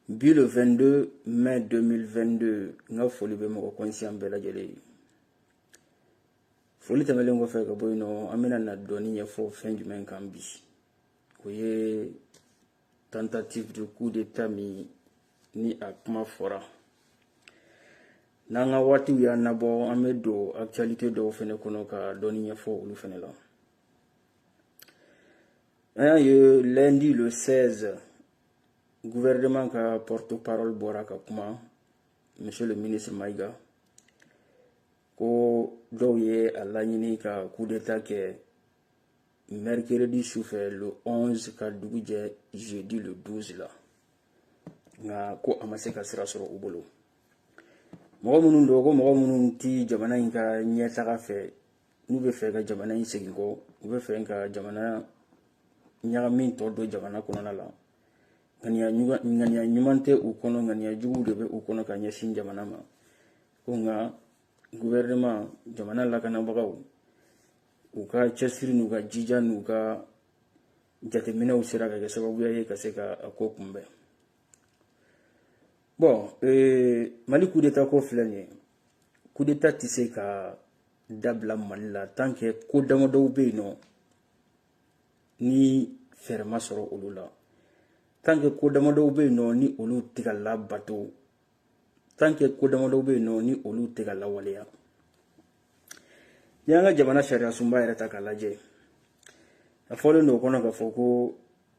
bi le 22 mai 2022 n ka foli bɛ mɔgɔ kɔnsiyan bɛɛ lajɛlen ye foli tɛmɛlen kɔfɛ ka bɔ yen nɔ an bɛna na dɔɔni ɲɛfɔ fɛn jumɛn kan bi o ye tentative de coup d'état min ni a kuma fɔra n'an ka waatiw y'an nabɔ an bɛ don actualité dɔw fɛnɛ kɔnɔ ka dɔɔni ɲɛfɔ olu fɛnɛ la An y'a ye lundi le 16 gouvernement ka porte parole bɔra ka kuma monsieur le ministre Maïga ko dɔw ye a laɲini ka coup d'état kɛ mercredi sufɛ le 11 ka dugu jɛ jeudi le 12 la nka ko a ma se ka sira sɔrɔ u bolo mɔgɔ minnu don ko mɔgɔ minnu ti jamana in ka ɲɛtaga fɛ n'u bɛ fɛ ka jamana in segin kɔ u bɛ fɛ ka jamana ɲagami tɔ don jamana kɔnɔna la ŋaniya ŋaniya ɲuman tɛ u kɔnɔ ŋaniya juguw de bɛ u kɔnɔ ka ɲɛsin jamana ma ko nka guvɛrɛnɛman jamana lakanabagaw u ka cɛsiri n'u ka jija n'u ka jateminɛw sera ka kɛ sababuya ye ka se ka a ko kunbɛn bon euh, mali coup d'état ko filɛ nin ye coup d'état tɛ se ka dabila mali la tant que ko damadɔw bɛ yen nɔ ni fɛɛrɛ ma sɔrɔ olu la tant que ko damadɔw bɛ yen nɔ ni olu tɛ ka labato tant que ko damadɔw bɛ yen nɔ ni olu tɛ ka lawaleya n'i y'an ka jamana sariyasunba yɛrɛ ta k'a lajɛ a fɔlen don o kɔnɔ k'a fɔ ko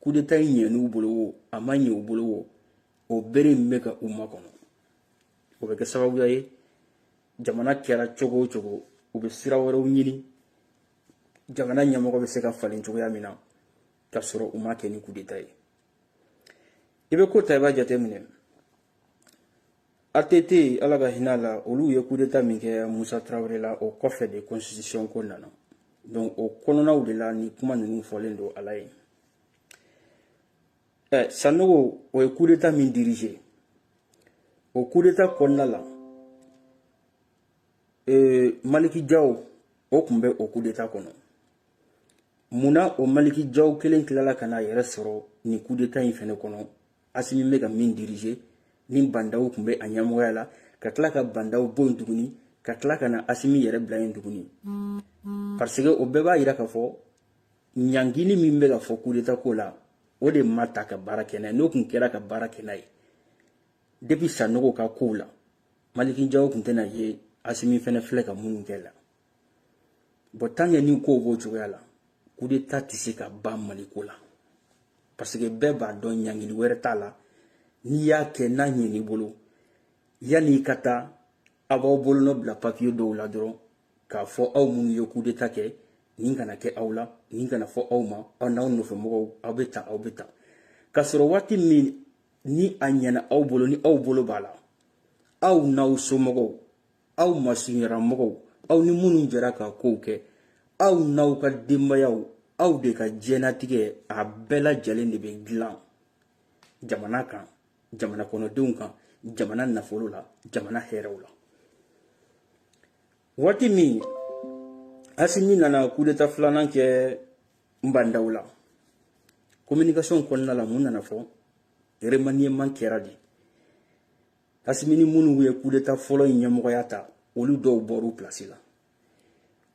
kudeta in ɲɛn'u bolo wo a ma ɲɛ u bolo wo o bere in bɛ ka u makɔnɔ o bɛ kɛ sababuya ye jamana kɛra cogo o cogo u bɛ sira wɛrɛw ɲini jamana ɲɛmɔgɔ bɛ se ka falen cogoya min na ka sɔrɔ u ma kɛ ni kudeta ye i bɛ ko ta i b'a jateminɛ ATT ala ka hinɛ a la olu ye kudeta min kɛ Musa Tarawele la o kɔfɛ de constitution ko nana donc o kɔnɔnaw de la ni kuma ninnu fɔlen don a lajɛ ɛ Sanogo o ye kudeta min diriger o kudeta kɔnɔna la ee Maliki Jaw o tun bɛ o kudeta kɔnɔ mun na o Maliki Jaw kelen tilala ka n'a yɛrɛ sɔrɔ nin kudeta in fɛnɛ kɔnɔ asimi bɛ ka min diriger ni Ba Ndaw tun bɛ a ɲɛmɔgɔya la ka tila ka Ba Ndaw bɔ yen tuguni ka tila ka na asimi yɛrɛ bila yen tuguni parce que o bɛɛ b'a yira k'a fɔ ɲangini min bɛ ka fɔ kudeta ko la o de ma ta ka baara kɛ n'a ye n'o tun kɛra ka baara kɛ n'a ye depuis sanogo ka kow la Maliki Jaw tun tɛna ye asimi fɛnɛ filɛ ka minnu kɛ la bɔn tant que ni kow b'o cogoya la kudeta tɛ se ka ban mali ko la paseke bɛɛ b'a dɔn ɲangili wɛrɛ t'a la n'i y'a kɛ n'a ɲɛn'i bolo yanni i ka taa aw b'aw bolonɔ bila papiye dɔw la dɔrɔn k'a fɔ aw minnu ye kudeta kɛ nin kana kɛ aw la nin kana fɔ aw ma aw n'aw nɔfɛ mɔgɔw aw bɛ taa aw bɛ taa k'a sɔrɔ waati min ni a ɲɛna aw bolo ni aw bolo b'a la aw n'aw somɔgɔw aw masurunyaramɔgɔw aw ni minnu jɛra ka kow kɛ aw n'aw ka denbayaw aw de ka diɲɛnatigɛ a bɛɛ lajɛlen de bɛ dilan jamana kan jamana kɔnɔdenw kan jamana nafolo la jamana hɛrɛw la waati min asimi nana kudeta filanan kɛ bandaw la communication kɔnɔna la mun nana fɔ remaniement kɛra de asimi ni minnu ye kudeta fɔlɔ in ɲɛmɔgɔya ta olu dɔw bɔr'u pilasi la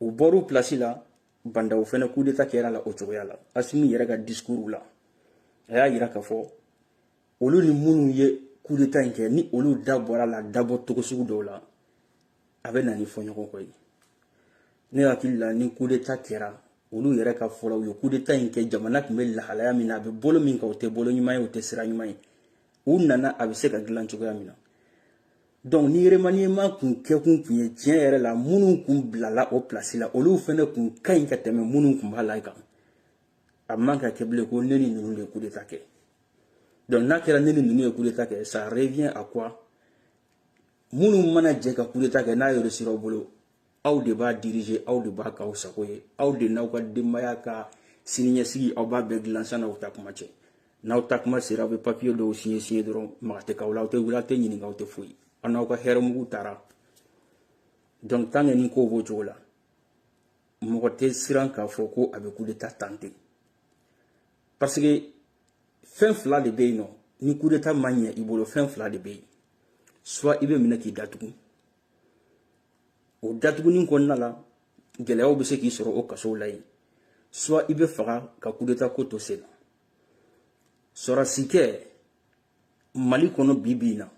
u bɔr'u pilasi la bandaw fɛnɛ kudeta kɛr'a la o cogoya la asimi yɛrɛ ka disikuruw la a y'a yira k'a fɔ olu ni minnu ye kudeta in kɛ ni olu da bɔr'a la dabɔ cogo sugu dɔw la a bɛ na ni fɔɲɔgɔnkɔ ye ne hakili la ni kudeta kɛra olu yɛrɛ ka fɔ la u ye kudeta in kɛ jamana tun bɛ lahalaya min na a bɛ bolo min kan o tɛ bolo ɲuman ye o tɛ sira ɲuman ye u nana a bɛ se ka dilan cogoya min na donc ni remaniement kun kɛkun kun ye tiɲɛ yɛrɛ la minnu kun bilala o pilasi la olu fana kun ka ɲi ka tɛmɛ minnu kun b'a la kan a man ka kɛ bilen ko ne ni ninnu de ye kudeta kɛ donc n'a kɛra ne ni ninnu ye kudeta kɛ ça revient à quoi minnu mana jɛ ka kudeta kɛ n'a réussira aw bolo aw de b'a dirije aw de b'a k'aw sago ye aw de n'aw ka denbaya ka siniɲɛsigi aw b'a bɛɛ dilan san'aw taa kuma cɛ n'aw taa kuma sera aw bɛ papiye dɔw siɲɛ siɲɛ dɔrɔn maga tɛ k'aw la aw tɛ wele aw tɛ ɲininka aw tɛ foyi aw n'aw ka hɛrɛ mugu taara donc tant que ni kow b'o cogo la mɔgɔ tɛ siran k'a fɔ ko a bɛ kudeta tenter parce que fɛn fila de bɛ yen nɔ ni kudeta ma ɲɛ i bolo fɛn fila de bɛ yen soit i bɛ minɛ k'i datugu o datugunni kɔnɔna la gɛlɛyaw bɛ se k'i sɔrɔ o kasow la yen soit i bɛ faga ka kudeta ko to sen na sɔrɔsi kɛ mali kɔnɔ bi bi in na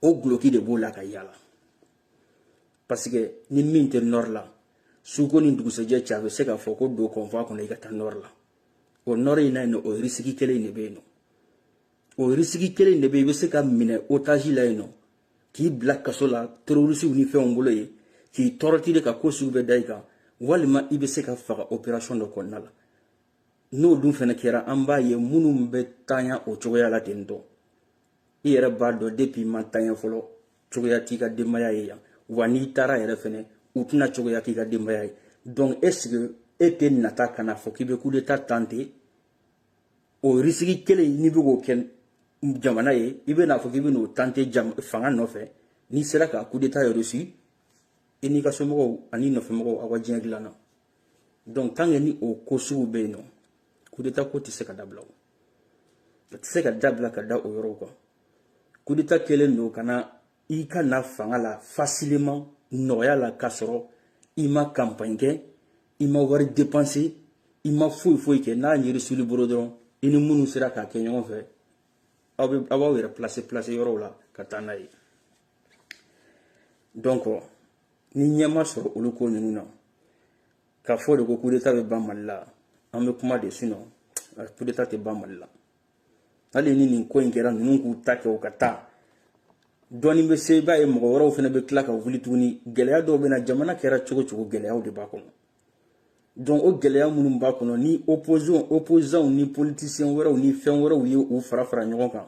o guloki de b'o la ka yaala parce que ni min tɛ nɔri la suko ni dugusɛjɛ cɛ a bɛ se k'a fɔ ko don convoi kɔnɔ i ka taa nɔri la o nɔri in na yen nɔ o risiki kelen in de bɛ yen nɔ o risiki kelen in de bɛ yen i bɛ se ka minɛ otazi la yen nɔ k'i bila kaso la terorisiw ni fɛnw bolo yen k'i torturer ka ko sugu bɛɛ da i kan walima i bɛ se ka faga operasɔn dɔ kɔnɔna la n'o dun fana kɛra an b'a ye minnu bɛ tanya o cogoya la ten tɔ i yɛrɛ b'a dɔn depi i ma tanya fɔlɔ cogoya t'i ka denbaya ye yan wa n'i taara yɛrɛ fɛnɛ u tɛna cogoya k'i ka denbaya ye donc est ce que e tɛna taa ka n'a fɔ k'i bɛ coup d'état tenter o risque kelen n'i bɛ k'o kɛ jamana ye i bɛ n'a fɔ k'i bɛ n'o tenter fanga nɔfɛ n'i sera ka coup d'état réussir i n'i ka somɔgɔw ani nɔfɛmɔgɔw aw ka diɲɛ dilanna donc tant que ni o ko sugu bɛ yen nɔ coup d'état ko tɛ se ka dabila o a tɛ se ka dabila ka da o yɔrɔw kan coup d'état kɛlen don ka na i ka na fanga la facilement nɔgɔya la k'a sɔrɔ i ma campagne kɛ i ma wari dépenser i ma foyi foyi kɛ n'a réussila i bolo dɔrɔn i ni minnu sera k'a kɛ ɲɔgɔn fɛ aw bɛ aw b'aw yɛrɛ placer placer yɔrɔw la ka taa n'a ye donc ni ɲɛ ma sɔrɔ olu ko ninnu na k'a fɔ de ko coup d'état bɛ ban mali la an bɛ kuma de sinon coup d'état tɛ ban mali la hali ni nin ko in kɛra ninnu k'u ta kɛ u ka taa dɔɔni bɛ se i b'a ye mɔgɔ wɛrɛw fana bɛ tila ka wuli tuguni gɛlɛya dɔw bɛ na jamana kɛra cogo cogo gɛlɛyaw de b'a kɔnɔ donc o gɛlɛya minnu b'a kɔnɔ ni opposition opposants ni politiciens wɛrɛw ni fɛn wɛrɛw ye u fara fara ɲɔgɔn kan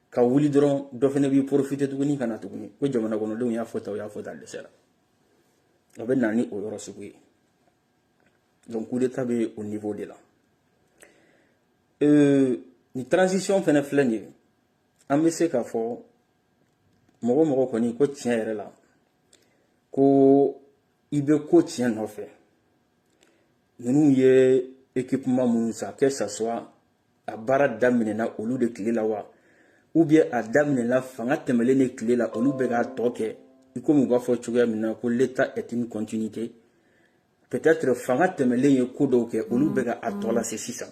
ka wuli dɔrɔn dɔ fana b'i profiter tuguni ka na tuguni ko jamana kɔnɔdenw y'a fɔ tan u y'a fɔ tan dɛsɛra o bɛ na ni o yɔrɔ sugu ye donc coup d'état bɛ o niveau de la Euh, nin transition fana filɛ nin ye an bɛ se k'a fɔ mɔgɔ mɔgɔ kɔni ko tiɲɛ yɛrɛ la ko i bɛ ko tiɲɛ nɔfɛ ninnu ye équipement minnu san que ça soit a baara daminɛna olu de tile la wa ou bien a daminɛna fanga tɛmɛlen de tile la olu bɛ k'a tɔ kɛ i komi u b'a fɔ cogoya min na ko l'état est une continuité peut-être fanga tɛmɛlen ye ko dɔw kɛ olu bɛ ka a tɔ lase sisan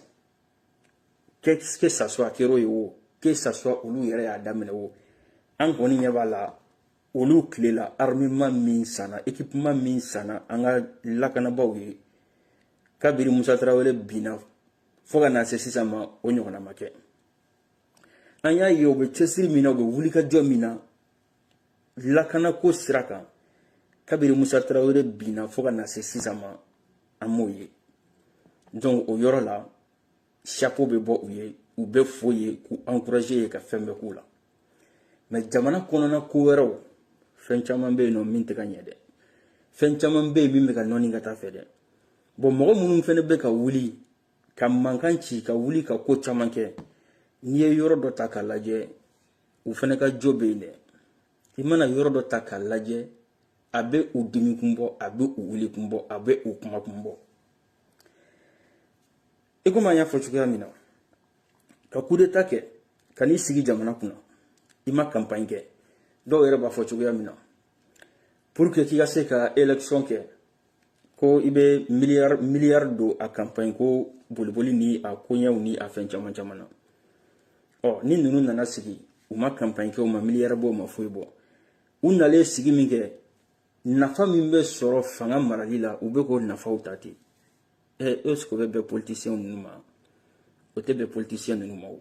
que que ça soit a kɛr'o ye o que ça soit olu yɛrɛ y'a daminɛ o an kɔni ɲɛ b'a la olu tile la armement min sanna équipement min sanna an ka lakanabaaw ye kabiri musa tarawele binna fo ka na se sisan ma o ɲɔgɔnna ma kɛ an y'a ye u bɛ cɛsiri min na u bɛ wulikajɔ min na lakanako sira kan kabiri musa tarawele binna fo ka na se sisan ma an m'o ye donc o yɔrɔ la chapeau bɛ bɔ u ye u bɛ fo ye k'u encourager ye ka fɛn bɛɛ k'u la mais jamana kɔnɔna ko wɛrɛw fɛn caman bɛ yen nɔ min tɛ ka ɲɛ dɛ fɛn caman bɛ yen min bɛ ka nɔɔni ka taa fɛ dɛ bon mɔgɔ minnu fana bɛ ka wuli ka mankan ci ka wuli ka ko caman kɛ n'i ye yɔrɔ dɔ ta k'a lajɛ u fɛnɛ ka jo bɛ yen dɛ i mana yɔrɔ dɔ ta k'a lajɛ a bɛ u dimi kun bɔ a bɛ u wuli kun bɔ a bɛ u kuma kun bɔ i komi an y'a fɔ cogoya min na ka kudeta kɛ ka n'i sigi jamana kunna i ma kanpaɲi kɛ dɔw yɛrɛ b'a fɔ cogoya min na pour que k'i ka se ka élection kɛ ko i bɛ miliyari miliyari don a kanpaɲi ko boliboli ni a koɲɛw ni a fɛn caman caman na ɔ ni ninnu nana sigi u ma kanpaɲi kɛ u ma miliyari bɔ u ma foyi bɔ u nalen sigi min kɛ nafa min bɛ sɔrɔ fanga marali la u bɛ k'o nafaw ta ten est-ce que o bɛ bɛn politisiyɛn ninnu ma o tɛ bɛn politisiyɛn ninnu ma o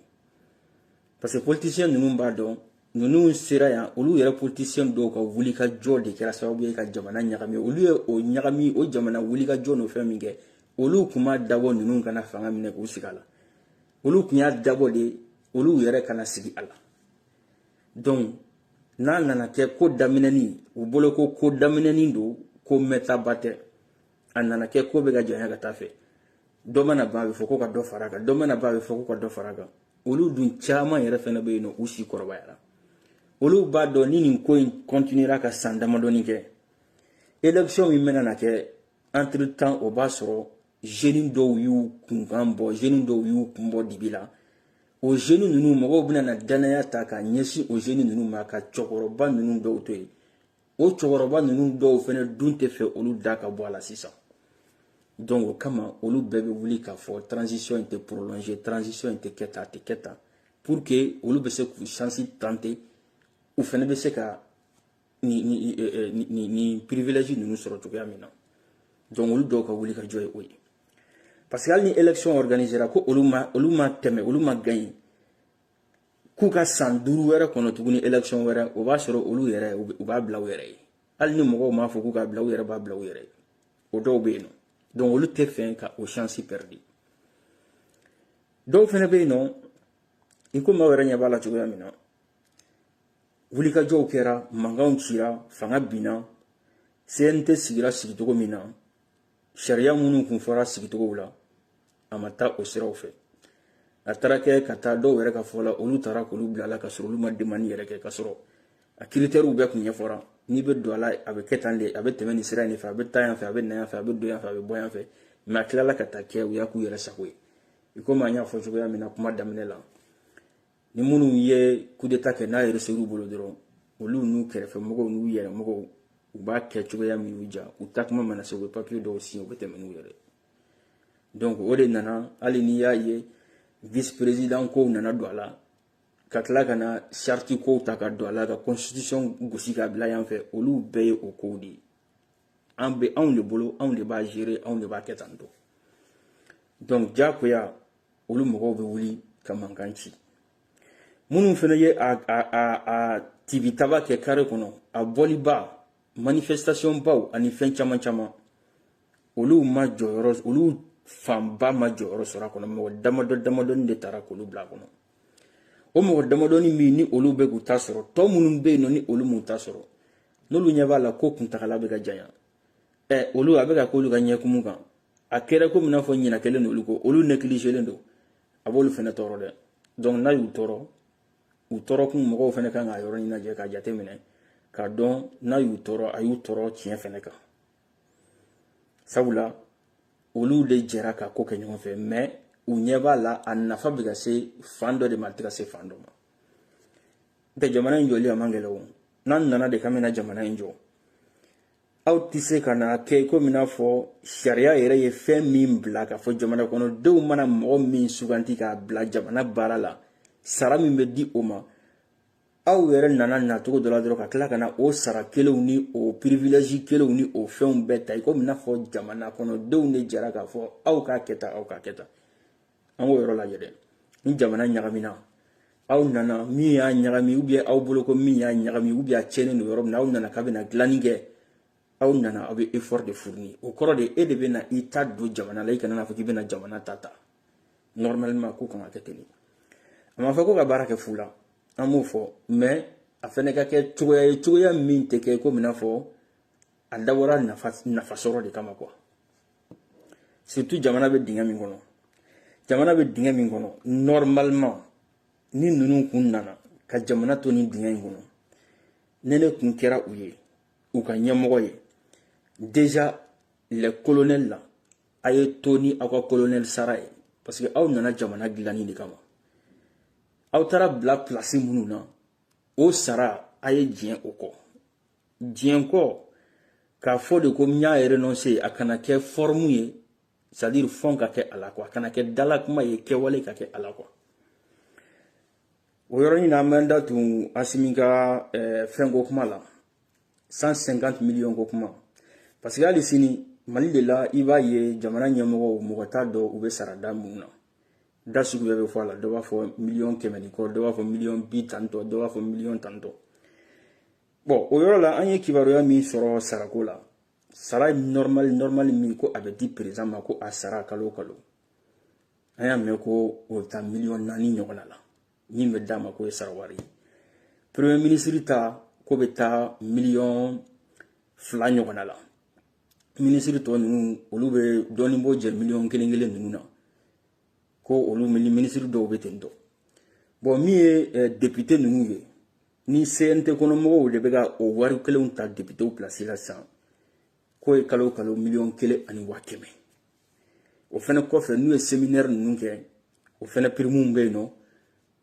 parce que politisiyɛn ninnu b'a dɔn ninnu sera yan olu yɛrɛ politisiyɛn dɔw ka wulikajɔ de kɛra sababu ye ka jamana ɲagami olu ye o ɲagami o jamana wulikajɔ n'o fɛn min kɛ olu tun m'a dabɔ ninnu ka na fanga minɛ k'u sigi a la olu tun y'a dabɔ de olu yɛrɛ ka na sigi a la donc n'a nana kɛ ko daminɛnen u bolo ko ko daminɛnen don ko mɛɛntaba tɛ a nana kɛ ko bɛ ka janya ka taa a fɛ dɔ mana ban a bɛ fɔ ko ka dɔ fara a kan dɔ mana ban a bɛ fɔ ko ka dɔ fara a kan olu dun caman yɛrɛ fɛnɛ bɛ yen nɔ u si kɔrɔbayara olu b'a dɔn ni nin ko in continuera ka san damadɔni kɛ élection min bɛna na kɛ entre temps o b'a sɔrɔ jeunes dɔw y'u kunkan bɔ jeunes dɔw y'u kun bɔ dibi la o jeunes ninnu mɔgɔw bɛna na danaya ta ka ɲɛsin o jeunes ninnu ma ka cɛkɔrɔba ninnu dɔw to yen o cɛkɔrɔba ninnu dɔw fɛnɛ dun tɛ fɛ olu da ka bɔ a la sisan donc o kama olu bɛɛ bɛ wuli k'a fɔ transition in tɛ prolonger transition in tɛ kɛ tan a tɛ kɛ tan pour que olu bɛ se k'u chance tenter u fɛnɛ bɛ se ka nin nin nin nin nin privilège ninnu sɔrɔ cogoya min na donc olu dɔw ka wulikajɔ ye o ye parce que hali ni élection organisera ko olu ma olu ma tɛmɛ olu ma gagner k'u ka san duuru wɛrɛ kɔnɔ tuguni élection wɛrɛ o b'a sɔrɔ olu yɛrɛ u b'a bila u yɛrɛ ye hali ni mɔgɔw m'a fɔ k'u k'a bila u yɛrɛ b'a bila u yɛrɛ ye o dɔw bɛ yen nɔ donc olu tɛ fɛ ka o chance perdre dɔw fɛnɛ bɛ yen nɔ i komi aw yɛrɛ ɲɛ b'a la cogoya min na wulikajɔw kɛra mankanw cira fanga binna cnt sigira sigicogo min na sariya minnu kun fɔra sigicogow la a ma taa o siraw fɛ a taara kɛ ka taa dɔw yɛrɛ ka fɔ la olu taara k'olu bila a la ka sɔrɔ olu ma demande yɛrɛ kɛ ka sɔrɔ a critères bɛɛ kun ɲɛfɔra n'i bɛ don a la a bɛ kɛ tan de a bɛ tɛmɛ nin sira in de fɛ a bɛ taa yan fɛ a bɛ na yan fɛ a bɛ don yan fɛ a bɛ bɔ yan fɛ mais a tilala ka taa kɛ u y'a k'u yɛrɛ sago ye i komi an y'a fɔ cogoya min na kuma daminɛ la ni minnu ye kudeta kɛ n'a yɛrɛ ser'u bolo dɔrɔn olu n'u kɛrɛfɛ mɔgɔw n'u yɛrɛ mɔgɔw u b'a kɛ cogoya min y'u diya u takuma mana se u bɛ papiye dɔw siɲɛ u bɛ tɛmɛ n'u yɛrɛ donc o de nana hali n'i y'a ye vice président kow nana don a la ka tila ka na charte kow ta ka don a la ka constitution gosi ka bila yan fɛ olu bɛɛ ye o kow de ye a bɛ anw de bolo anw de b'a gérer anw de b'a kɛ tan tɔ donc diyagoya olu mɔgɔw bɛ wuli ka mankan ci minnu fana ye a a a a tibitaba kɛ kare kɔnɔ a bɔliba manifestation baw ani fɛn caman caman olu ma jɔyɔrɔ olu fanba ma jɔyɔrɔ sɔrɔ a kɔnɔ mɔgɔ damadɔ damadɔni de taara k'olu bila a kɔnɔ o mɔgɔ damadɔni min ni olu bɛ k'u ta sɔrɔ tɔ minnu bɛ yen nɔ ni olu m'u ta sɔrɔ n'olu ɲɛ b'a la ko kuntagala bɛ ka janya ɛ olu a bɛ ka k'olu ka ɲɛkumu kan a kɛra komi n'a fɔ ɲinɛ kɛlen olu kɔ olu négligelen don a b'olu fana tɔɔrɔ dɛ donc n'a y'u tɔɔrɔ u tɔɔrɔkun mɔgɔw fana kan k'a yɔrɔnin lajɛ k'a jateminɛ k'a dɔn n'a y'u tɔɔrɔ a y'u tɔɔrɔ tiɲɛ fana kan sabula olu de jɛra ka ko kɛ ɲɔgɔn fɛ mais u ɲɛ b'a la a nafa bɛ ka se fan dɔ de ma a tɛ ka se fan dɔ ma n'o tɛ jamana in jɔli a man gɛlɛn o n'an nana de k'an bɛna jamana in jɔ aw tɛ se ka na kɛ komi n'a fɔ sariya yɛrɛ ye fɛn min bila k'a fɔ jamana kɔnɔdenw mana mɔgɔ min suganti k'a bila jamana baara la sara min bɛ di o ma aw yɛrɛ nana nacogo dɔ la dɔrɔn ka tila ka na o sara kelenw ni o privilège kelenw ni o fɛnw bɛɛ ta i komi n'a fɔ jamana kɔnɔdenw de jɛra k'a fɔ aw k'a kɛ tan aw k'a kɛ tan an k'o yɔrɔ lajɛ dɛ ni jamana ɲagamina aw nana min y'a ɲagami ou bien aw bolo ko min y'a ɲagami ou bien a cɛnnen don yɔrɔ min na aw nana k'a bɛna dilanni kɛ aw nana aw bɛ effort de fournir o kɔrɔ de e de bɛ na i ta don jamana la i kana n'a fɔ k'i bɛna jamana ta ta normalement ko kan ka kɛ ten de a ma fɔ ko ka baara kɛ fu la an m'o fɔ mais a fɛnɛ ka kɛ cogoya ye cogoya min tɛ kɛ komi i n'a fɔ a dabɔra nafa nafa sɔrɔ de kama quoi surtout jamana bɛ dingɛ min kɔnɔ jamana bɛ dingɛ min kɔnɔ normalement ni ninnu kun nana ka jamana to nin dingɛ in kɔnɔ ne ne kun kɛra u ye u ka ɲɛmɔgɔ ye déjà les colonels la a ye to ni aw ka colonel sara ye parce que aw nana jamana dilanni de kama aw taara bila pilasi minnu na o sara a ye diɲɛ o kɔ diɲɛkɔ k'a fɔ de ko n y'a renonse a kana kɛ forme ye c'est-à-dire fond ka kɛ a la quoi a kana kɛ dalakuma ye kɛwale ka kɛ a la quoi o yɔrɔnin na an bɛ da tun asimi ka eh, fɛnko kuma la 150 miliyɔn ko kuma parce que hali sini mali de la i b'a ye jamana ɲɛmɔgɔw mɔgɔ t'a dɔn u bɛ sara da mun na da sugu bɛɛ bɛ fɔ a la dɔ b'a fɔ miliyɔn kɛmɛ ni kɔ dɔ b'a fɔ miliyɔn bi tantɔ dɔ b'a fɔ miliyɔn tantɔ bɔn o yɔrɔ la an ye kibaruya min sɔrɔ sarako la sara nɔrmali min ko a bɛ di président ma ko a sara kalo kalo an y'a mɛn ko o bɛ taa miliyɔn naani ɲɔgɔnna la min bɛ d'a ma k'o ye sara wari ye premier minisiri ta k'o bɛ taa miliyɔn fila ɲɔgɔnna la minisiri tɔ ninnu olu bɛ dɔɔnin bɔ jɛ miliyɔn kelen kelen ninnu na ko olu minisiri dɔw bɛ ten tɔ bɔn min ye eh, depite ninnu ye ni cnt kɔnɔmɔgɔw de bɛ ka o wari kelenw ta depitew pilasi la sisan k'o ye kalo kalo miliyɔn kelen ani waa kɛmɛ o fɛnɛ kɔfɛ n'u ye seminɛri ninnu kɛ o fɛnɛ pirimuw bɛ yen nɔ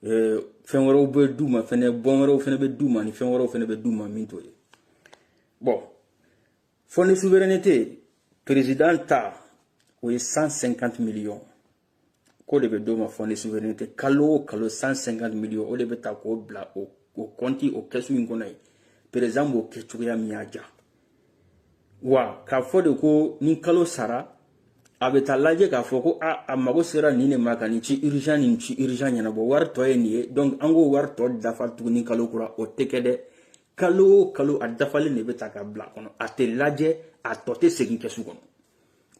eh, fɛn wɛrɛw bɛ d'u ma fɛnɛ bɔn wɛrɛw fɛnɛ bɛ d'u ma ni fɛn wɛrɛw fɛnɛ bɛ d'u ma min t'o ye bɔn fonds de souveraineté président ta o ye 150 millions k'o de bɛ d'o ma fonds de souveraineté kalo o kalo 150 millions o de bɛ ta k'o bila o o kɔnti o kɛsu in kɔnɔ yen président b'o kɛ cogoya min y'a diya wa k'a fɔ de ko ni kalo sara a bɛ taa lajɛ k'a fɔ ko a a mago sera nin de ma ka nin ci urgent nin ci urgent ɲɛnabɔ wari tɔ ye nin ye donc an k'o wari tɔ dafa tuguni kalo kura o tɛ kɛ dɛ kalo o kalo a dafalen de bɛ ta ka bila a kɔnɔ a tɛ lajɛ a tɔ tɛ segin kɛsu kɔnɔ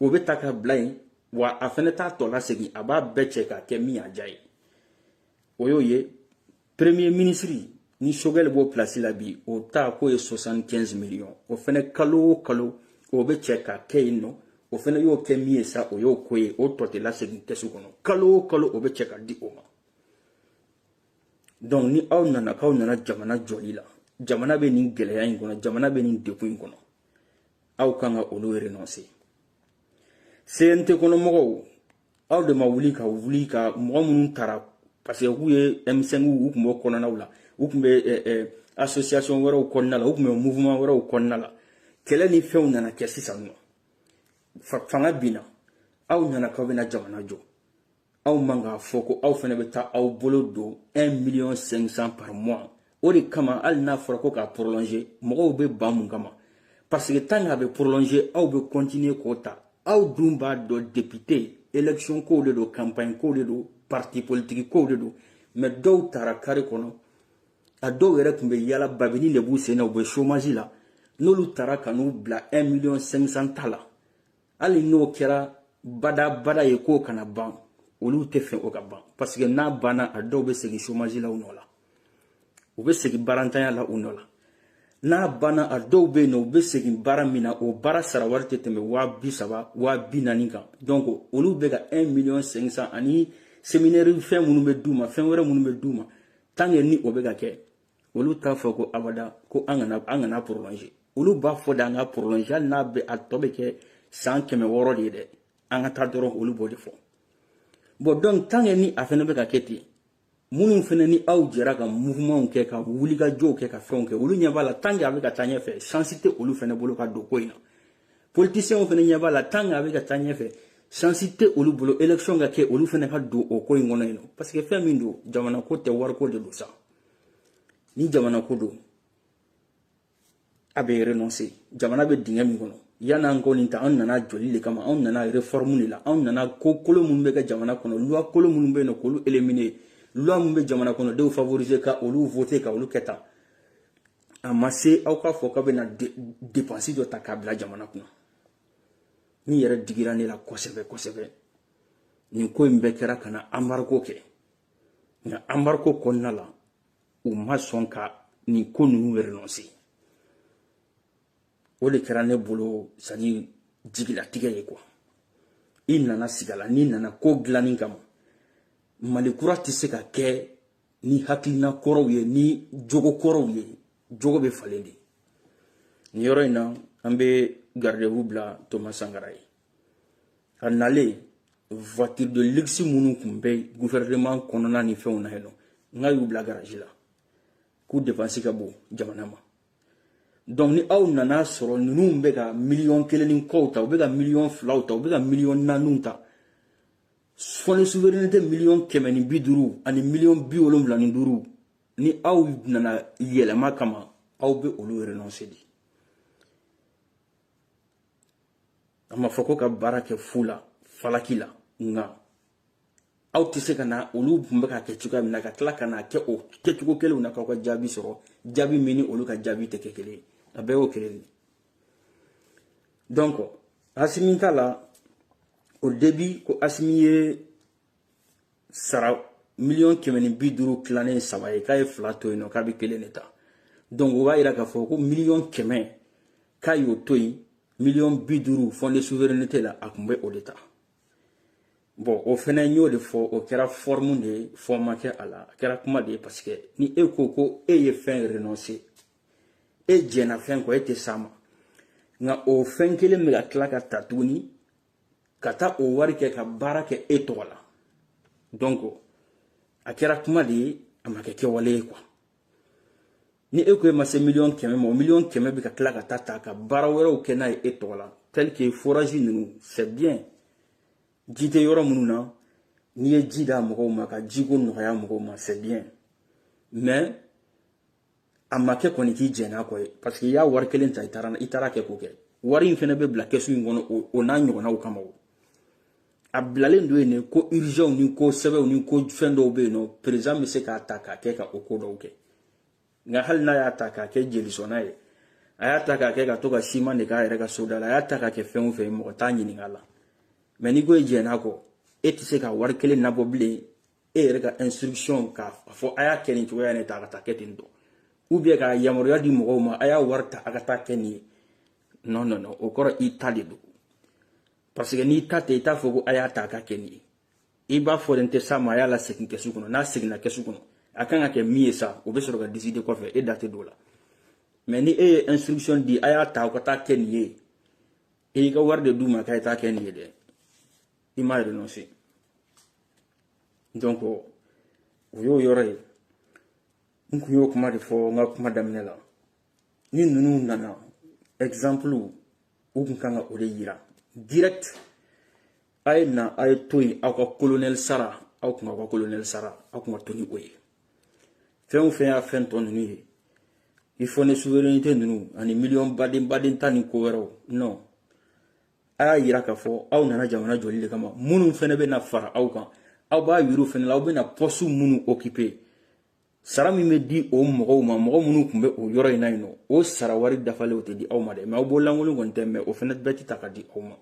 o bɛ ta ka bila yen wa a fana t'a tɔ lasegin a b'a bɛɛ cɛ k'a kɛ min y'a diya ye o y'o ye premier minisiri ni sogɛli b'o pilasi la bi o ta k'o ye 75 miliyɔn o fana kalo o kalo o bɛ cɛ k'a kɛ yen nɔ o fana y'o kɛ min ye sa o y'o ko ye o tɔ tɛ lasegin kɛsu kɔnɔ kalo o kalo o bɛ cɛ ka di o ma donc ni aw nana k'aw nana jamana jɔli la jamana bɛ nin gɛlɛya in kɔnɔ jamana bɛ nin degun in kɔnɔ aw kan ka olu renonse cnt kɔnɔmɔgɔw aw de ma wuli ka wuli ka mɔgɔ minnu tara parce que k'u ye m5 u tun b'o kɔnɔnaw la u tun bɛ association wɛrɛw kɔnɔna la u tun bɛ mouvement wɛrɛw kɔnɔna la kɛlɛ ni fɛnw nana kɛ sisan nɔ fanga binna aw nana k'aw bɛna jamana jɔ aw man k'a fɔ ko aw fana bɛ taa aw bolo don 1 million 500 par mois o de kama hali n'a fɔra ko k'a prolonger mɔgɔw bɛ ban mun kama parce que tant qu'a bɛ prolonger aw bɛ continuer k'o ta aw dun b'a dɔn député élection kow de don campagne kow de don parti politique kow de don mais dɔw tara carré kɔnɔ a dɔw yɛrɛ tun bɛ yala babinin de b'u sen na u bɛ chômage la n'olu tara ka n'u bila 1 million 500 ta la hali n'o kɛra badabada ye k'o kana ban olu t'a fɛ o ka ban parce que n'a banna a dɔw bɛ segin chômage la u nɔ la u bɛ segin baarantanya la u nɔ la n'a banna a dɔw bɛ yen nɔ u bɛ segin baara min na o baara sara wari tɛ tɛmɛ waa bi saba waa bi naani kan donc olu bɛ ka un million cinq cent ani séminaire fɛn minnu bɛ d'u ma fɛn wɛrɛ minnu bɛ d'u ma tant que ni o bɛ ka kɛ olu t'a fɔ ko abada ko an kana an kana prolonger olu b'a fɔ de an ka prolonger hali n'a bɛ a tɔ bɛ kɛ san kɛmɛ wɔɔrɔ de ye dɛ an ka taa dɔrɔn olu b'o de fɔ bon donc tant que ni a fana bɛ ka kɛ ten minnu fana ni aw jɛra ka mouvementw kɛ ka wulikajɔw kɛ ka fɛnw kɛ olu ɲɛ b'a la tant que a bɛ ka taa ɲɛfɛ chance tɛ olu fana bolo ka don ko in na politicienw fana ɲɛ b'a la tant que a bɛ ka taa ɲɛfɛ chance tɛ olu bolo élection ka kɛ olu fana ka don o ko in kɔnɔ yen nɔ parce que fɛn min don jamanako tɛ wariko de don sa ni jamana ko don a bɛ renoncer jamana bɛ dingɛ min kɔnɔ yan an ko nin ta anw nana jɔli de kama anw nana réforme de la anw nana ko kolo minnu bɛ kɛ jamana kɔnɔ loi kolo minnu bɛ yen nɔ k'olu éliminer loi minnu bɛ jamana kɔnɔdenw favoriser ka olu voter ka olu kɛ tan a ma se aw k'a fɔ k'a bɛna dépense dɔ ta k'a bila jamana kunna min yɛrɛ digira ne la kosɛbɛ kosɛbɛ nin ko in bɛɛ kɛra ka na embargo kɛ nka embargo kɔnɔna la u ma sɔn ka nin ko ninnu renoncer o de kɛra ne bolo c'est-à-dire jigilatigɛ ye quoi i nana sigi a la n'i nana ko dilanni kama mali kura tɛ se ka kɛ ni hakilina kɔrɔw ye ni jogo kɔrɔw ye jogo bɛ falen de nin yɔrɔ in na an bɛ garde-à-vous bila thomas sankara ye a nalen voiture de luxe minnu tun bɛ gouvernement kɔnɔna ni fɛnw na yen nɔ nk'a y'u bila garage la k'u dépense ka bon jamana ma donc ni aw nan'a sɔrɔ ninnu bɛ ka miliyɔn kelen ni kɔw ta u bɛ ka miliyɔn filaw ta u bɛ ka miliyɔn naaniw ta fonds de souveraineté miliyɔn kɛmɛ ni bi duuru ani miliyɔn bi wolonwula ni duuru ni aw nana yɛlɛma kama aw bɛ olu renoncer de a ma fɔ ko ka baara kɛ fu la falaki la nka aw tɛ se ka na olu tun bɛ k'a kɛ cogoya min na ka tila ka n'a kɛ o kɛcogo kelenw na k'aw ka jaabi sɔrɔ jaabi min ni olu ka jaabi tɛ kɛ kelen ye a bɛɛ y'o kelen de donc assimi ta la au début ko assimi ye sara miliyɔn kɛmɛ ni bi duuru tilanen saba ye k'a ye fila to yen nɔ k'a bɛ kelen de ta donc o b'a yira k'a fɔ ko miliyɔn kɛmɛ k'a y'o to yen miliyɔn bi duuru fonds de souveraineté la a tun bɛ o de ta bon o fɛnɛ n y'o de fɔ o kɛra forme de ye fond ma kɛ a la a kɛra kuma de ye parce que ni e ko ko e ye fɛn renoncer e jɛnna fɛn kɔ e tɛ s'a ma nka o fɛn kelen bɛ ka tila ka ta tuguni ka taa o wari kɛ ka baara kɛ e tɔgɔ la donc a kɛra kuma de ye a ma kɛ kɛwale ye quoi ni e ko e ma se miliyɔn kɛmɛ ma o miliyɔn kɛmɛ bɛ ka tila ka taa ta ka baara wɛrɛw kɛ n'a ye e tɔgɔ la tel que forage ninnu c'est bien ji tɛ yɔrɔ minnu na n'i ye ji d'a mɔgɔw ma ka jiko nɔgɔya mɔgɔw ma c'est bien mais a ma kɛ kɔni k'i jɛn'a kɔ ye parce que i y'a wari kelen ta i taara i taara kɛ k'o kɛ wari in fɛnɛ bɛ bila kɛsu in kɔnɔ o n'a ɲɔgɔnnaw kama o a bilalen don yen de ko urgentw ni ko sɛbɛw ni ko fɛn dɔw bɛ yen nɔ président bɛ se k'a ta k'a kɛ ka o ko dɔw kɛ nka hali n'a y'a ta k'a kɛ jelisɔnna ye a y'a ta k'a kɛ ka to ka siman de k'a yɛrɛ ka soda la a y'a ta k'a kɛ fɛn o fɛn ye mɔgɔ t'a ɲininka a la mais n'i ko i jɛn'a kɔ e tɛ se ka wari kelen nabɔ bilen e yɛrɛ ka instruction k'a fɔ a y'a kɛ nin cogoya in ta a ka taa kɛ ten tɔ ou bien ka yamaruya di mɔgɔw ma a y'a wari ta a ka taa kɛ nin ye non non non o kɔrɔ i ta de don parce que n'i ta tɛ i t'a fɔ ko a y'a ta a ka kɛ nin ye i b'a fɔ ne tɛ s'a ma a y'a lasegin kɛsu kɔnɔ n'a seginna kɛsu kɔnɔ a kan ka kɛ min ye sa o bɛ sɔrɔ ka décider kɔfɛ e da tɛ don o la mais ni e ye instruction di a y'a ta aw ka taa kɛ nin ye e y'i ka wari de d'u ma k'a ye taa kɛ nin ye dɛ i ma renoncer donc o y'o yɔrɔ ye n kun y'o kuma de fɔ n ka kuma daminɛ la ni ninnu nana exemple u kun kan ka o de yira direct a ye na a ye to yen aw ka kolonɛli sara aw kun aw ka kolonɛli sara aw kun ka to ni o ye fɛn o fɛn y'a fɛn tɔ ninnu ye fonds de souveraineté ninnu ani miliyɔn baden baden ta ni ko wɛrɛw non a y'a yira k'a fɔ aw nana jamana jɔli de kama minnu fɛnɛ bɛna fara aw kan aw b'a yir'u fɛnɛ la aw bɛna poste minnu occuper sara min bɛ di o mɔgɔw ma mɔgɔ minnu tun bɛ o yɔrɔ in na yen nɔ o sara wari dafalen o tɛ di aw ma dɛ mais aw bolo lankolon kɔni tɛ mais o fɛnɛ bɛɛ tɛ ta ka di aw ma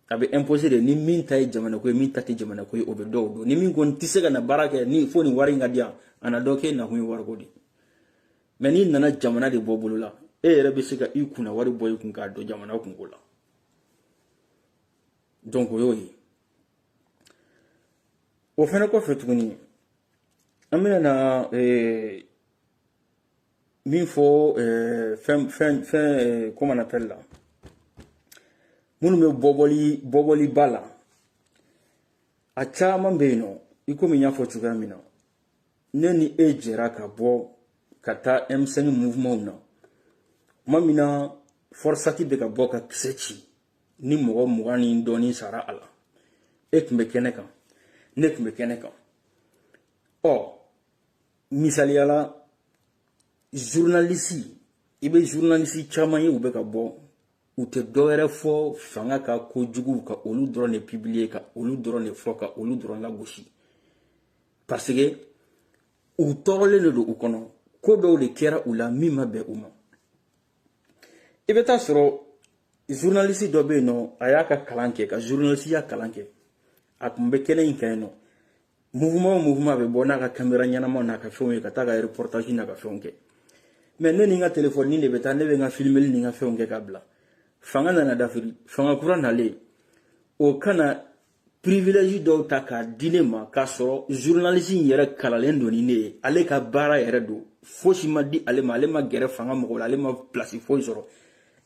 a bɛ imposer de ni min ta ye jamana ko ye min ta tɛ jamana ko ye o bɛ dɔn o don ni min kɔni tɛ se ka na baara kɛ ni fo nin wari in ka di yan an n'a dɔn k'e nakun ye wariko de ye mais n'i nana jamana de bɔ bolo la e yɛrɛ bɛ se ka i kunna wari bɔ i kun k'a don jamana kunko la donc o y'o ye o fɛnɛ kɔfɛ tuguni an bɛna na eh, min fɔ eh, fɛn fɛn fɛn eh, comment on appelle la minnu bɛ bɔbɔli bɔbɔliba la a caman bɛ yen nɔ i komi n y'a fɔ cogoya min na ne ni e jɛra ka bɔ ka taa M5 mouvementw na tuma min na FORSAT bɛ ka bɔ ka kisɛ ci ni mɔgɔ mugan ni dɔɔnin sara a la e tun bɛ kɛnɛ kan ne tun bɛ kɛnɛ kan ɔ misaliya la journaliste i bɛ journaliste caman ye u bɛ ka bɔ u tɛ dɔwɛrɛ fɔ fanga ka kojuguw ka olu dɔrɔn de publier ka olu dɔrɔn de fɔ ka olu dɔrɔn lagosi parce que u tɔɔrɔlen de don u kɔnɔ ko dɔw de kɛra u la min ma bɛn u ma i bɛ taa sɔrɔ journaliste dɔ bɛ yen nɔ a y'a ka kalan kɛ ka journalisiya kalan kɛ a tun bɛ kɛnɛ in kan yen nɔ mouvement o mouvement bɛ bɔ n'a ka kamera ɲɛnamaw n'a ka fɛnw ye ka taa ka reportage n'a ka fɛnw kɛ mais ne ni n ka telefɔni de bɛ taa ne bɛ n ka filimeli ni n ka fɛnw kɛ ka bila fanga nana dafiri fanga kura nalen o ka na privilège dɔw ta k'a di ne ma k'a sɔrɔ journaliste in yɛrɛ kalanlen don ni ne ye ale ka baara yɛrɛ don fosi ma di ale ma ale ma gɛrɛ fanga mɔgɔ la ale ma place foyi sɔrɔ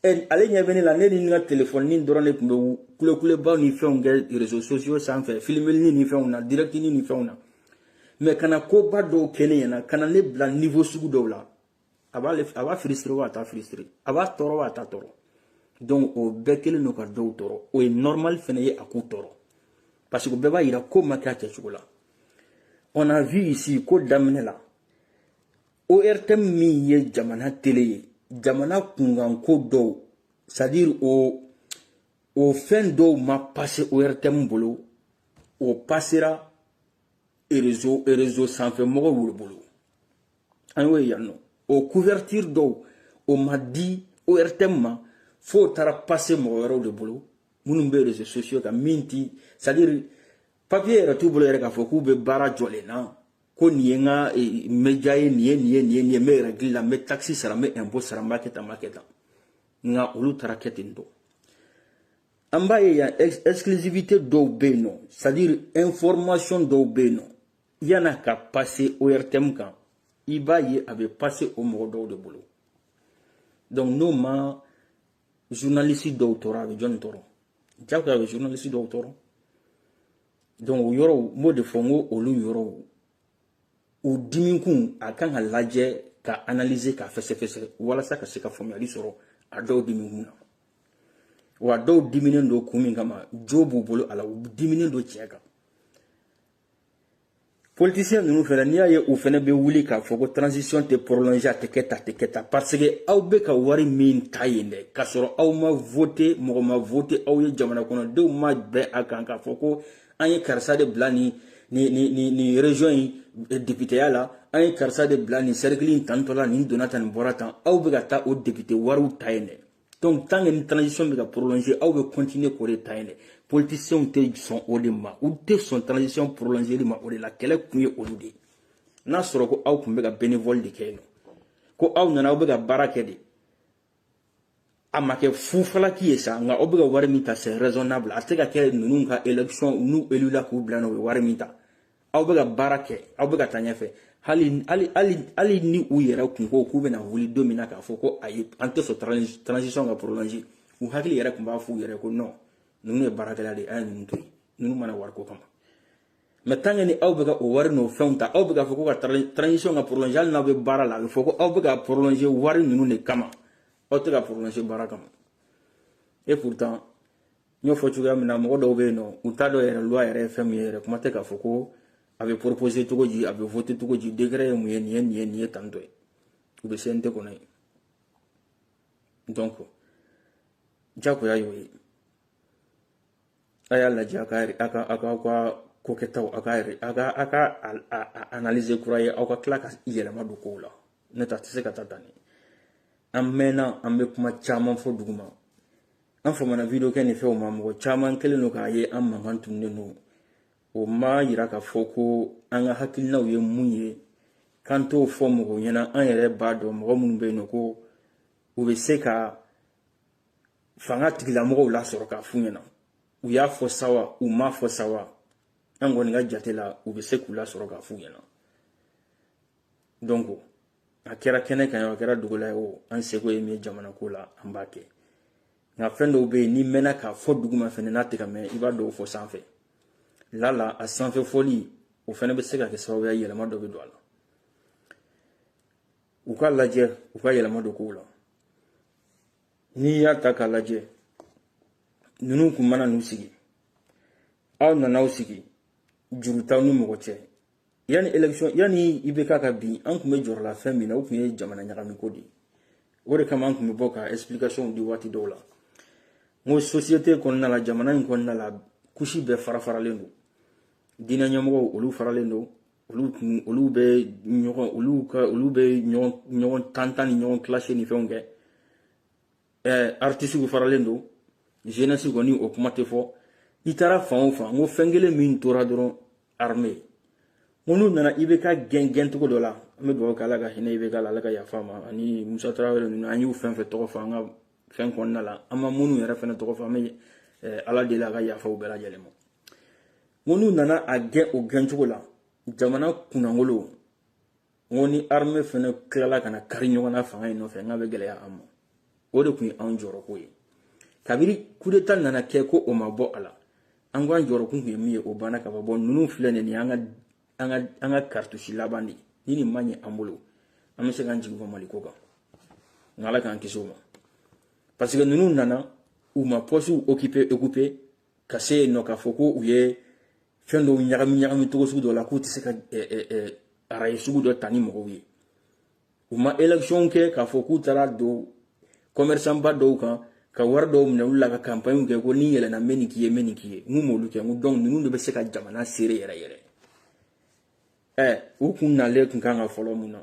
ale ɲɛ bɛ ne la ne ni n ka telefɔni dɔrɔn de tun bɛ kulekuleba ni fɛnw kɛ réseaux sociaux sanfɛ filimeli ni fɛnw na direct ni fɛnw na mais ka na koba dɔw kɛ ne ɲɛna ka na ne bila niveau sugu dɔw la a b'a frustrer wa a t'a frustrer a b'a tɔɔrɔ wa a t'a tɔɔrɔ donc o bɛɛ kɛlen don ka dɔw tɔɔrɔ o ye normal fɛnɛ ye a k'u tɔɔrɔ parce que bɛɛ b'a yira ko ma kɛ a kɛcogo la on a vu ici ko daminɛ la ORTM min ye jamana tele ye jamana kunkanko dɔw c'est à dire o o fɛn dɔw ma passer ORTM bolo o pasera réseau réseau sanfɛ mɔgɔw olu bolo an y'o ye yan nɔ o couverture dɔw o ma di ORTM ma fo o taara passer mɔgɔ wɛrɛw de bolo minnu bɛ réseaux sociaux kan min ti c'est à dire papier yɛrɛ t'u bolo yɛrɛ k'a fɔ k'u bɛ baara jɔlen na ko nin ye n ka média ye nin ye nin ye nin ye nin ye n bɛ règle la n bɛ taxe sara n bɛ impôt sara n b'a kɛ tan n b'a kɛ tan nka olu taara kɛ ten tɔ an b'a ye yan exclusivité dɔw bɛ yen nɔ c'est à dire information dɔw bɛ yen nɔ yan'a ka passer ORTM kan i b'a ye a bɛ passer o mɔgɔ dɔw de bolo donc n'o ma journaliste dɔw tɔɔrɔ a bɛ jɔni tɔɔrɔ jagoya a bɛ journaliste dɔw tɔɔrɔ. donc o yɔrɔw n b'o de fɔ n ko olu yɔrɔw o dimikun a kan ka lajɛ ka analyser ka fɛsɛfɛsɛ walasa ka se ka faamuyali sɔrɔ a dɔw dimikun na wa dɔw diminen don kun min kama jo b'u bolo a la u diminen don tiɲɛ kan politisiyɛn ninnu fɛnɛ n'i y'a ye u fɛnɛ bɛ wuli k'a fɔ ko transition tɛ prolonge a tɛ kɛ tan tɛ kɛ tan parce que aw bɛ ka wari min ta yen dɛ k'a sɔrɔ aw ma vote mɔgɔ ma vote aw ye jamana kɔnɔdenw ma bɛn a kan k'a fɔ ko an ye karisa de bila nin nin nin nin nin region in eh, depiteya la an ye karisa de bila nin sɛrikili in tantɔ la nin donna tan nin bɔra tan aw bɛ ka taa o depite wariw ta yen dɛ donc tant que ni transition bɛ ka prolonger aw bɛ continuer k'o de ta yen dɛ politiciens tɛ sɔn o de ma u tɛ sɔn transition prolonger li ma o de la kɛlɛ kun ye olu de ye n'a sɔrɔ ko aw tun bɛ ka bénévole de kɛ yen nɔ ko aw nana aw bɛ ka baara kɛ de a ma kɛ fufalaki ye sa nka aw bɛ ka wari min ta c'est raisonnable a tɛ ka kɛ ninnu ka élection n'u élula k'u bila n'u bɛ wari min ta aw bɛ ka baara kɛ aw bɛ ka taa ɲɛfɛ hali hali hali hali ni u yɛrɛ kun ko k'u bɛna wuli don min na k'a fɔ ko ayi an tɛ sɔn transition ka prolonger u hakili yɛrɛ tun b'a f'u yɛrɛ ko non ninnu ye baarakɛla de ye an ye ninnu to yen ninnu ma na wariko kama mais tant que ni aw bɛ ka o wari n'o fɛnw ta aw bɛ k'a fɔ ko ka transition ka prolonger hali n'aw bɛ baara la a bɛ fɔ ko aw bɛ ka prolonger wari ninnu de kama aw tɛ ka prolonger baara kama et pourtant n y'o fɔ cogoya min na mɔgɔ dɔw bɛ yen nɔ u t'a dɔn yɛrɛ loi yɛrɛ ye fɛn min ye yɛrɛ kuma tɛ k'a fɔ ko a bɛ proposer cogo di a bɛ voter cogo di décret ye mun ye nin ye nin ye nin ye tantɔ ye u bɛ CNT kɔnɔ yen donc jagoya y'o ye a y'a lajɛ a ka a ka a ka aw ka ko kɛtaw a ka yɛrɛ a ka a ka analyser kura ye aw ka tila ka yɛlɛma don kow la n'o tɛ a tɛ se ka taa tan nin an mɛnna an bɛ kuma caman fɔ duguma an famana video kɛ ni fɛnw ma mɔgɔ caman kɛlen don k'a ye an mankan tununen don o ma yira k'a fɔ ko an ka hakilinaw ye mun ye k'an t'o fɔ mɔgɔw ɲɛna an yɛrɛ b'a dɔn mɔgɔ minnu bɛ yen nɔ ko u bɛ se ka fangatigilamɔgɔw lasɔrɔ k'a f'u ɲɛna u y'a fɔ sa wa u m'a fɔ sa wa an kɔni ka jate la u bɛ se k'u lasɔrɔ k'a f'u ɲɛna donc a kɛra kɛnɛ kan a kɛra dogo la ye o an seko ye min ye jamana ko la an b'a kɛ nka fɛn dɔw bɛ yen n'i mɛnna k'a fɔ duguma fɛnɛ n'a tɛ ka mɛn i b'a dɔw fɔ sanfɛ lala a sanfɛ fɔli o fɛnɛ bɛ se ka kɛ sababu ye yɛlɛma dɔ bɛ don a la u k'a lajɛ u ka yɛlɛma don kow la n'i y'a ta k'a lajɛ ninnu kun ma na n'u sigi aw nana aw sigi juru t'aw ni mɔgɔ cɛ yanni élection yanni IBK ka bin an tun bɛ jɔrɔ la fɛn min na o tun ye jamana ɲagami ko de ye o de kama an tun bɛ bɔ ka explication di waati dɔw la n ko société kɔnɔna la jamana in kɔnɔna la couche bɛɛ fara faralen don diinɛ ɲɛmɔgɔw olu faralen don olu kun olu bɛ ɲɔgɔn olu ka olu bɛ ɲɔgɔn ɲɔgɔn tan tan ni ɲɔgɔn clasher ni fɛnw kɛ ɛɛ artisiw faralen don jeunesse kɔni o kuma tɛ fɔ i taara fan o fan n ko fɛn kelen min tora dɔrɔn armée ko n'u nana IBK gɛn gɛn cogo dɔ la an bɛ dugawu kɛ ala ka hinɛ IBK la ala ka yaf'a ma ani musa tarawele ninnu an y'u fɛn fɛn tɔgɔ fɔ an ka fɛn kɔnɔna la an ma minnu yɛrɛ fɛnɛ tɔgɔ fɔ an bɛ eh, ala deli a ka yafa u bɛɛ lajɛlen ma ko n'u nana a gɛn o gɛn cogo la jamana kunnangolo n ko ni arme fana tilala ka na kari ɲɔgɔn na fanga in nɔfɛ n k'a bɛ gɛlɛya an ma o de tun ye anw jɔrɔko ye kabiri kudeta nana kɛ ko o ma bɔ a la an ko an jɔrɔkun tun ye min ye o banna ka ban bɔ ninnu filɛ nin ye an ka an ka karitusi laban de ni nin ma ɲɛ an bolo an bɛ se k'an jigi bɔ maliko kan nka ala k'an kisi o ma parce que ninnu nana u ma postes occuper occuper ka se yen nɔ k'a fɔ ko u ye fɛn dɔw ɲagami ɲagami cogo sugu dɔ la k'u tɛ se ka araye sugu dɔ ta ni mɔgɔw ye u ma élection kɛ k'a fɔ k'u taara don commerçant ba dɔw kan ka wari dɔw minɛ olu la ka campagne kɛ ko ni n yɛlɛnna n bɛ nin k'i ye n bɛ nin k'i ye n ko u m'olu kɛ n ko donc ninnu de bɛ se ka jamana gérer yɛrɛ yɛrɛ ɛ u kun nalen kun kan ka fɔlɔ mun na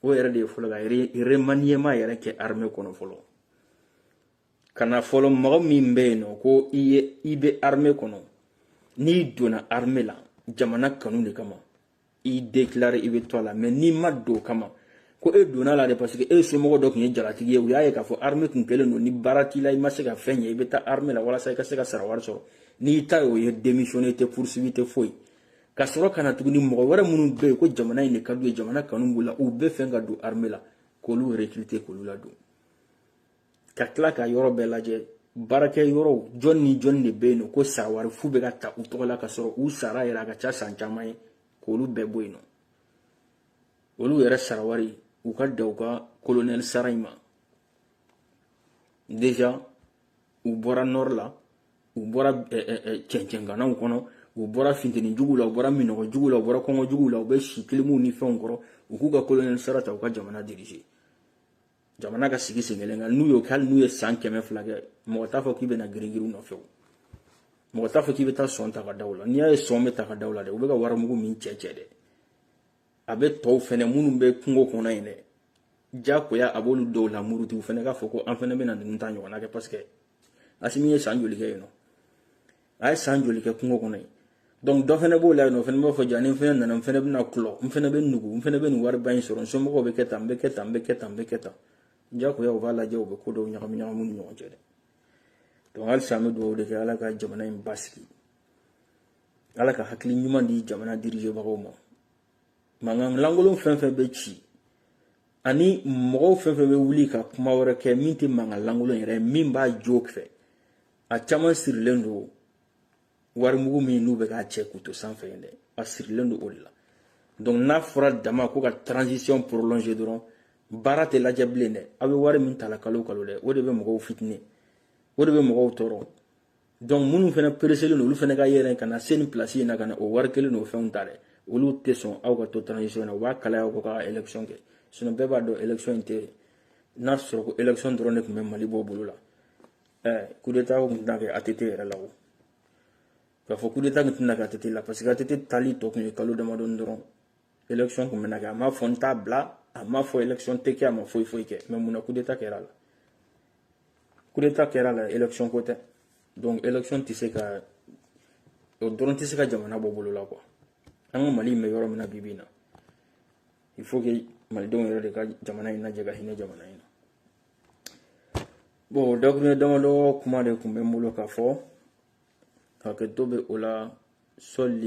o yɛrɛ de ye fɔlɔ ka remaniement yɛrɛ kɛ armée kɔnɔ fɔlɔ ka na fɔlɔ mɔgɔ min bɛ yen nɔ ko i ye i bɛ arme kɔnɔ n'i donna arme la jamana kanu de kama i déclarer i bɛ to a la mais n'i ma don o kama ko e donna a la de parce que e somɔgɔ dɔ tun ye jalatigi ye u y'a ye k'a fɔ arme tun kɛlen don ni baara t'i la i ma se ka fɛn ɲɛ i bɛ taa arme la walasa i ka se ka sara wari sɔrɔ n'i ta ye o ye démissionner tɛ poursuivi tɛ foyi ka sɔrɔ ka na tuguni mɔgɔ wɛrɛ minnu bɛ yen ko jamana in de ka d'u ye jamana kanu b'u la u bɛ fɛn ka don arme la k'olu recruter k'olu ladon ka tila ka yɔrɔ bɛɛ lajɛ baarakɛ yɔrɔw jɔn ni jɔn de bɛ yen nɔ ko sara wari fu bɛ ka ta u tɔgɔ la ka sɔrɔ u sara yɛrɛ a ka ca san caman ye k'olu bɛɛ bɔ yen nɔ olu yɛrɛ sara wari u ka da u ka kolonɛli sara in ma déjà u bɔra nord la u bɔra cɛncɛnganaw kɔnɔ u bɔra finteni juguw la u bɔra minɔgɔ juguw la u bɔra kɔngɔ juguw la u bɛ si kilimuw ni fɛnw kɔrɔ u k'u ka kolonɛli sara ta u ka jamana diriger jamana ka sigi sen kelen kan n'u y'o kɛ hali n'u ye san kɛmɛ fila kɛ mɔgɔ t'a fɔ k'i bɛna giringirin u nɔfɛ o mɔgɔ t'a fɔ k'i bɛ taa sɔn ta ka da u la n'i y'a ye sɔn bɛ ta ka da u la dɛ u bɛ ka warimugu min cɛ cɛ dɛ a bɛ tɔw fɛnɛ minnu bɛ kungo kɔnɔ yen dɛ jakoya a b'olu dɔw lamuruti u fɛnɛ k'a fɔ ko an fɛnɛ bɛna ninnu ta ɲɔgɔnna kɛ parce que asimi ye san joli kɛ yen nɔ a ye san joli kɛ kungo kɔnɔ donc dɔ fana b'o la yen nɔ o fana b'a fɔ ja ni n fana nana n fana bɛna kulɔ n fana bɛ nugu n fana bɛ nin wariba in sɔrɔ n somɔgɔw bɛ kɛ tan n bɛ kɛ tan n bɛ kɛ tan n bɛ kɛ tan jagoya u b'a lajɛ u bɛ ko dɔw ɲagami ɲagami ni ɲɔgɔn cɛ dɛ donc halisa an bɛ dugawu de kɛ ala ka jamana in basigi ala ka hakili ɲuman di jamana dirigebagaw ma mankan lankolon fɛn fɛn bɛ ci ani mɔgɔw fɛn fɛn bɛ wuli ka kuma wɛrɛ kɛ min tɛ mankan lankolon yɛrɛ ye min b'a jo fɛ a caman sirilen don warimugu min n'u bɛ k'a cɛ k'u to sanfɛ yen dɛ a sirilen don o de la donc n'a fɔra dama ko ka transition prolonger dɔrɔn baara tɛ lajɛ bilen dɛ aw bɛ wari min ta la kalo kalo dɛ o de bɛ mɔgɔw fitinɛ o de bɛ mɔgɔw tɔɔrɔ donc minnu fana pereselen don olu fana ka yɛlɛn ka na se nin pilasi in na ka na o wari kelen n'o fɛnw ta dɛ olu tɛ sɔn aw ka to transition na u b'a kalaya aw kɔ k'aw ka élection kɛ sinon bɛɛ b'a dɔn élection in tɛ n'a sɔrɔ ko élection dɔrɔn de tun bɛ mali bɔ bolo la kudeta kun tɛna kɛ ATT yɛrɛ la o k'a fɔ kudeta kun tɛna kɛ ATT la parce que ATT taali tɔ kun ye kalo damadɔni dɔrɔn élection kun bɛna kɛ a m'a fɔ n t'a bila a m'a fɔ élection tɛ kɛ a ma foyi foyi kɛ mais mun na kudeta kɛra a la kudeta kɛra a la élection ko tɛ donc élection tɛ se ka o dɔrɔn tɛ se ka jamana bɔ bolo la quoi an ka mali in bɛ yɔrɔ min na bi bi in na il faut que malidenw yɛrɛ de ka jamana in lajɛ ka hinɛ jamana in na bon dakuruɲɛ damadɔ kuma de tun bɛ n bolo k'a fɔ hakɛto bɛ o la sɔli